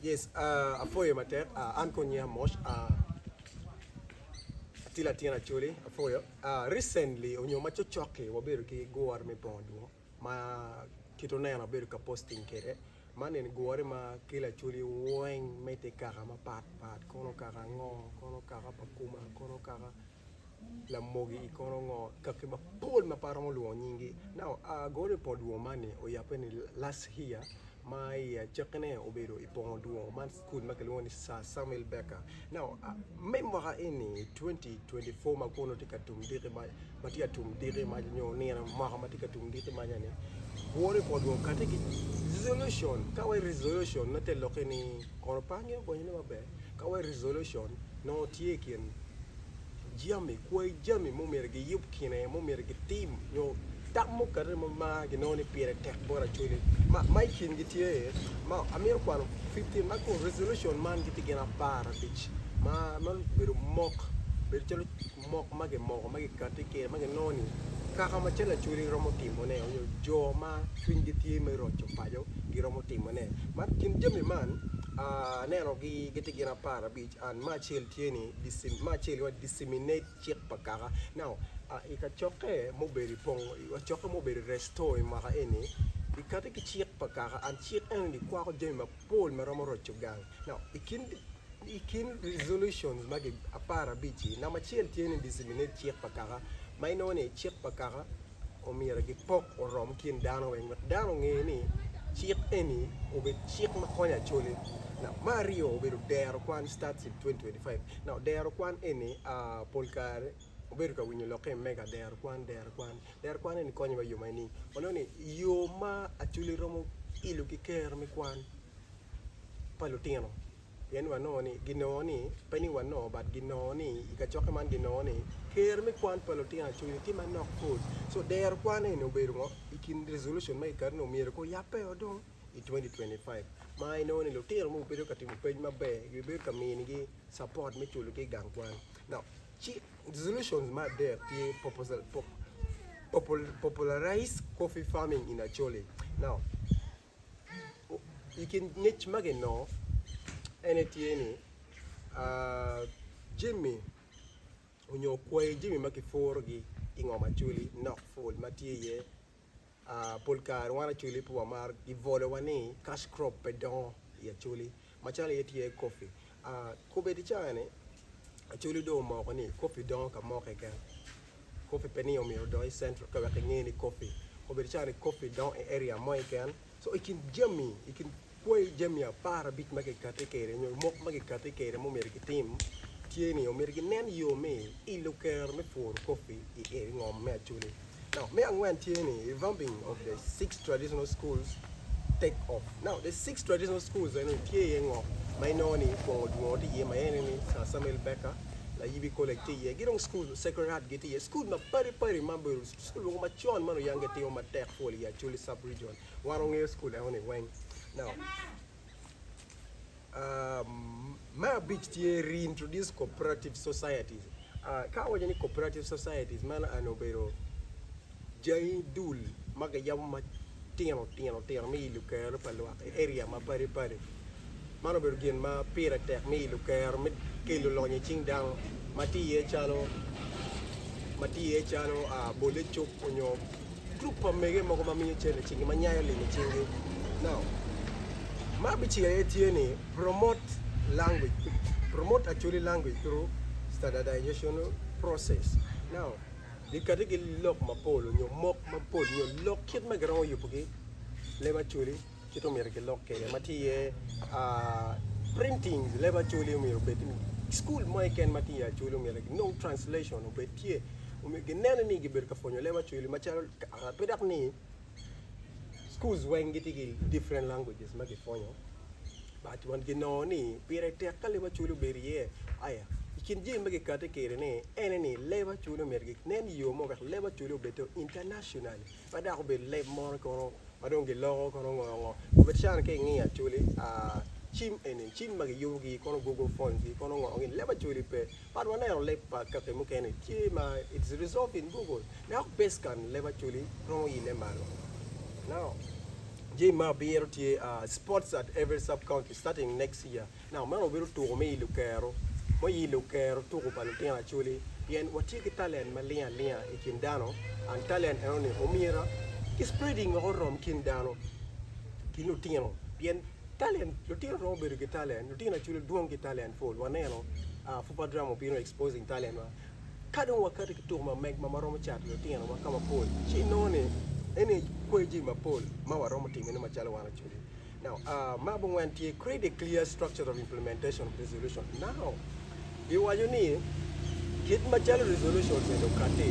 Yes aa apwoyo matek aa an kong nyinga moc aa atye latin acoli apwoyo aa recently onyo ma cocoki wabedo ki gure me bongo dwong ma kit oneno abedo ka posting kede man eni gure ma kelo acoli weng me te kaka mapat pat kono kaka ango kono kaka pa kuma kono kaka Lamogi i kono ngo? Kaki mapol ma pe aromo lwongo nyingi. Now I go to pol dwongo man ni oyabbe ni last here ma i acakki ne obedo i pongo dwongo man school ma kilwongo ni Sir Samuel Baker. Now me mwaka eni 2024 ma kono tye ka tum diki mac ma tye ka tum diki mac nyo nino mwaka ma tye ka tum diki mac eni woro i pol dwongo kati ki resolution ka wai resolution me te loki ni kono pangi obonyo ne maber. Ka wa i resolution, nongo tye i kin jami, kwai jami ma omyero giyub kine, ma omyero gitim, nyo tam mukene ma mar ginongo ni pire tek bot Acholi. Ma, ma i kingi tye, ma amito kwano fifteen, ma kun resolution man gitye gin apar abic, ma, ma obedo mok, obedo calo mok ma gimoko ma gikatti kire ma ginongo ni kaka ma cal Acholi romo timone onyo jo ma cwinygi tye me roco paco giromo timone. Man kin jami man aneno gi gitye gin apar abic and ma acel tye ni ma acel giwaco disseminate cik pa kaka. Now i kacokke ma obedo i pong kacokke ma obedo i resto i mwaka eni gikati ki cik pa kaka and cik eno ni kwako jami ma Pool ma romo roco gang. Now, i kin, i kin resolutions magi apar abic-ci, namba acel tye ni disseminate cik pa kaka, ma inongo ni cik pa kaka omyero gipok orom kin dano weng wek dano onge ni cik eni obed cik ma konyo acole. Now, me aryo obedo dero kwan, starts in 2025. Now, dero kwan eni, ah, pol kare, obedo ka winyo lokke i mega dero kwan dero kwan dero kwan eni konyo wa i yo magi ni wanongo ni i yo ma acholi romo ilo ki kero me kwan pa lutino pien ni wanongo ni ginongo ni pe ni wanongo but ginongo ni i kacokke man ginongo ni kero me kwan pa lutino acholi tye manok pol so dero kwan eni obedo ngo i kin resolution ma kikati ni omyero ko yabbe o dong i 2025 ma inongo ni lutino ma gubedo ka timo pec maber gibedo ka minigi support me culu ki i gang kwan now Ci resolutions me adek tye popularize coffee farming in Acholi. Now i kin ngec ma ginongo en aye tye ni jami onyo kwayi jami ma kipurogi i ngom Acholi nok pol ma tye iye. pol kare wan Acholi pe wamaro gibolowa ni cash crop pe dongo i Acholi macalo aye tye ki kopi. Kobedi i caa-ni Acholi dong omoko ni kopi dongo ka mo keken, kopi pe ni myero odong i Central ka wek inge ni kopi. Kobedi caa-ni kopi dongo i area mo keken Co i kin jami, i kin kwai jami apar abic ma kikati kede nyo mok ma kikati kede ma omyero ki tim tye ni omyero ki nen yo me ilo kero me pworo kopi i eri ngom me acholi. Now me angwen tye ni revamping of the six traditional schools take off. Now the six traditional schools eno ni tye iye ngo ma inongo ni kwongo dwongo tye iye ma ene ni Sir Samuel Baker, Layibi College tye iye ki dong school Sacred Heart gi tye iye school ma padi padi ma obedo School mogo macon ma luyang gitimo matek full i Acholi sub region. Wan wangeyo school eno ni weng. Now, um, me abic tye reintroduce cooperative societies. Uh, ka awaco ni cooperative societies, meno eno obedo jangi dul ma giyabo matino tino tino me ilo kero pa lwak i area ma padi padi. Man obedo gin ma pire tek ni lukero me kelo lony i cing dano ma tye iye calo ma tye iye calo bole cuk onyo gurup pa mege mogo ma miyo cente i cingi ma nyayo lim i cingi. Now, ma abicel aye tye ni promote language through promote Acholi language through standardizational process. Now, gikati ki lok mapol onyo mok mapol onyo lok kit ma giromo yubugi leb Acholi. Kit omyero gilok kede ma tye iye printings leb acholi omyero obed ni cukul mo keken ma tye iye acholi omyero ginong translation obed tye omyero ginene ni gibedo ka pwonyo leb acholi macalo pe dok ni schools weng gitye ki different languages ma gipwonyo but wan ginongo ni pire tek ka leb acholi obedo iye aya i kin jami ma gikati kede-ni ene ni leb acholi omyero ginen yo mo wek leb acholi obed to internationally Ma dako obedo leb moro kono ma dong giloko kono ngo ngo obed can ka ingiyo actually cim eni cim ma giyubo gi kono google phone gi kono ngo ni leb actually pe but waneno leb pa kaki mukene tye ma it's resolved in google dok base kan leb actually romo ile malo now jami ma abiro tye sports at every sub county starting next year. Nako meno obedo tuko me ilo kero, ma ilo kero tuko pa lutino Acholi, pien watye ki talent maling alinga i kin dano, and talent eno ni omyera ki spreading woko orom kin dano ki lutino, pien talent lutino romo bedo ki talent, lutino Acholi dwong ki talent pol, waneno aa Fupa Drama obino exposing talent wa, ka dong wakato ki tuko ma meg ma ma romo cato lutino wa ka mapol ci inongo ni eni kweyo jami mapol ma waromo timone macalo wan Acholi. Ma abongwen tye Create a Clear Structure of Implementation of Resolutions Now giwaco ni kit macalo resolutions eni okati,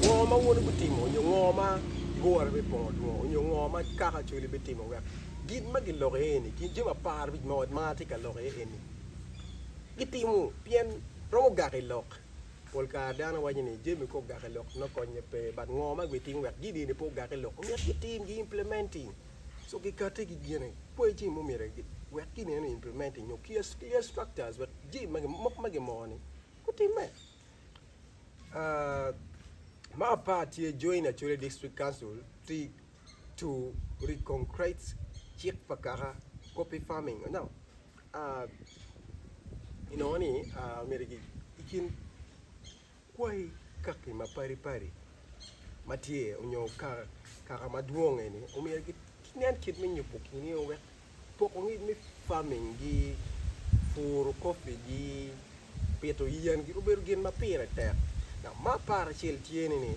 ngo ma wun ibitimo nyo ngo ma gure bipongo dwong onyo ngo ma kaka Acholi bitimo wek gin ma giloko iye eni gin jami apar abic ma ot marwa tye ka loko iye eni gitimo pien romo gak i lok. Pol kare dano waco ni jami ka ogak i lok nongo konye pe but ngo ma gibitimo wek gin eni pe ogak i lok omyero gitim gi implementing. so gikate ki gine poi ci mo myero wek ki neno implementing nyo ki ya structures wek ji ma mok ma gimoko ni gutimme ma apar tye join acholi district council ti to reconcrate cik pa kaka copy farming you know inongo ni myero ki kin Kwai kaki ma padi padi ma tye onyo kaka ma dwong eni omyero ki nen kit me nyubo kini o wek poko ngic me farming gi puru coffee gi pito yen gi obedo gin ma pire tek dok ma apar acel tye ni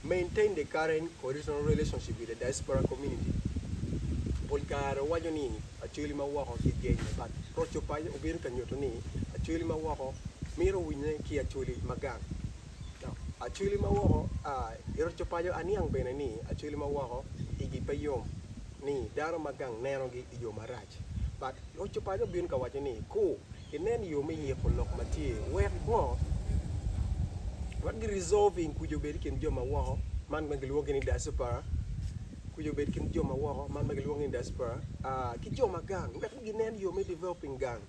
maintain the current original relationship with the diaspora community pol kare waco ni Acholi ma woko ki geny mapat. Roco paco obedo ka nyuto ni acholi ma woko mito winye ki acholi ma gang. Acholi ma woko I roco paco aniang bene ni acholi ma woko igi pe yom ni dano ma gang nenogi I yo marac. But roco paco bino ka waco ni ku inen yo me yiko lok ma tye wek ngo? Wek gi resolving kuc obed I kin jo ma woko man ma gilwongi ni diaspora. Kwica obed kin jo ma woko, man ma gilwongo ni diaspora, ki jo ma gang wek ginen yo me developing gang.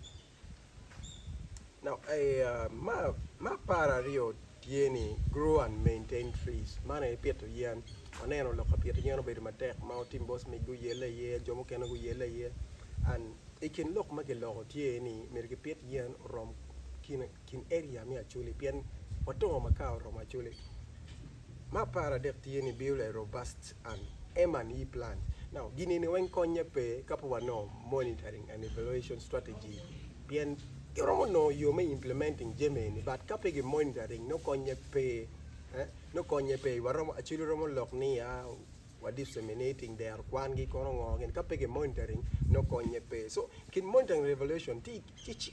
Ma par aryo tye ni grow and maintain trees, man aye pito yen. Waneno lok ka pito yen obedo matek ma otim bot mic guyelle aye, jo mukene guyelle aye and i kin lok ma kiloko tye ni myero kipit yen orom kine. kin area me Acholi pien watongo ma ka oromo Acholi. Me apar adek tye ni build a robust and M&E plan. Now gin eni weng konye pe ka pe wanongo monitoring and evaluation strategy pien ki romo nongo yo me implementing jami eni but ka pe ki monitoring nongo konye pe eh nongo konye pe waromo Acholi romo lok ni ya wa disseminating dero kwan gi kono ngo gin ka pe ki monitoring nongo konye pe so kin monitoring and evaluation tye tye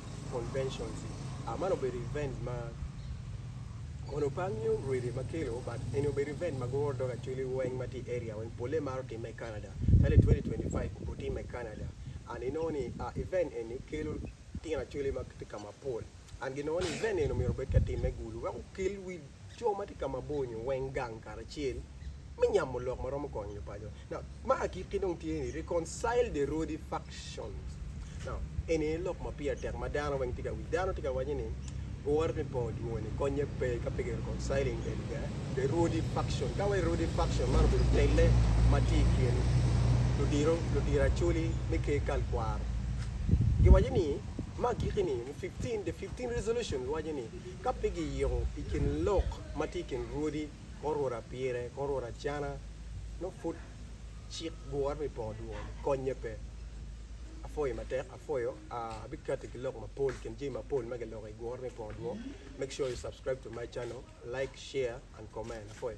conventions-i. Ah, man obedo event ma kono pe angeyo rwede ma kelo, but eni obedo event ma guro dog actually weng ma tye i area weng polle maro timme i Canada. Calo i twenty twenty five obo timme i Canada and inongo ni ah event eni kelo tino actually ma gitye ka mapol and ginongo ni event eni omyero obed ka timme i Gulu wek okel wi co ma tye ka mabor nyo weng gang karacel me nyamo lok ma romo konyo nyo paco. Now, ma agikki dong tye ni reconcile the roady factions. Now, eni aye lok ma pire tek ma dano weng tye ka winyo. Dano tye ka waco ni, Wore me bongo dwongoni konye pe ka pe ki reconciling the, the, the roady faction. Ka wai roady faction man obedo telle ma tye i kin ludiro, ludiro Acholi me ker kal kwaro. Giwaco ni, ma agikki ni, fifteen, the fifteen resolutions waco ni, Ka pe giyiko i kin lok ma tye i kin rwodi, kor rwod apire, kor rwod acana, nongo pud cik gure me poko dwol, konnye pe. Apwoyi matek, apwoyo, abikati ki lok mapol, kin jami mapol ma giloko i gure me poko dwol, make sure you subscribe to my channel, like, share and comment, apwoyo.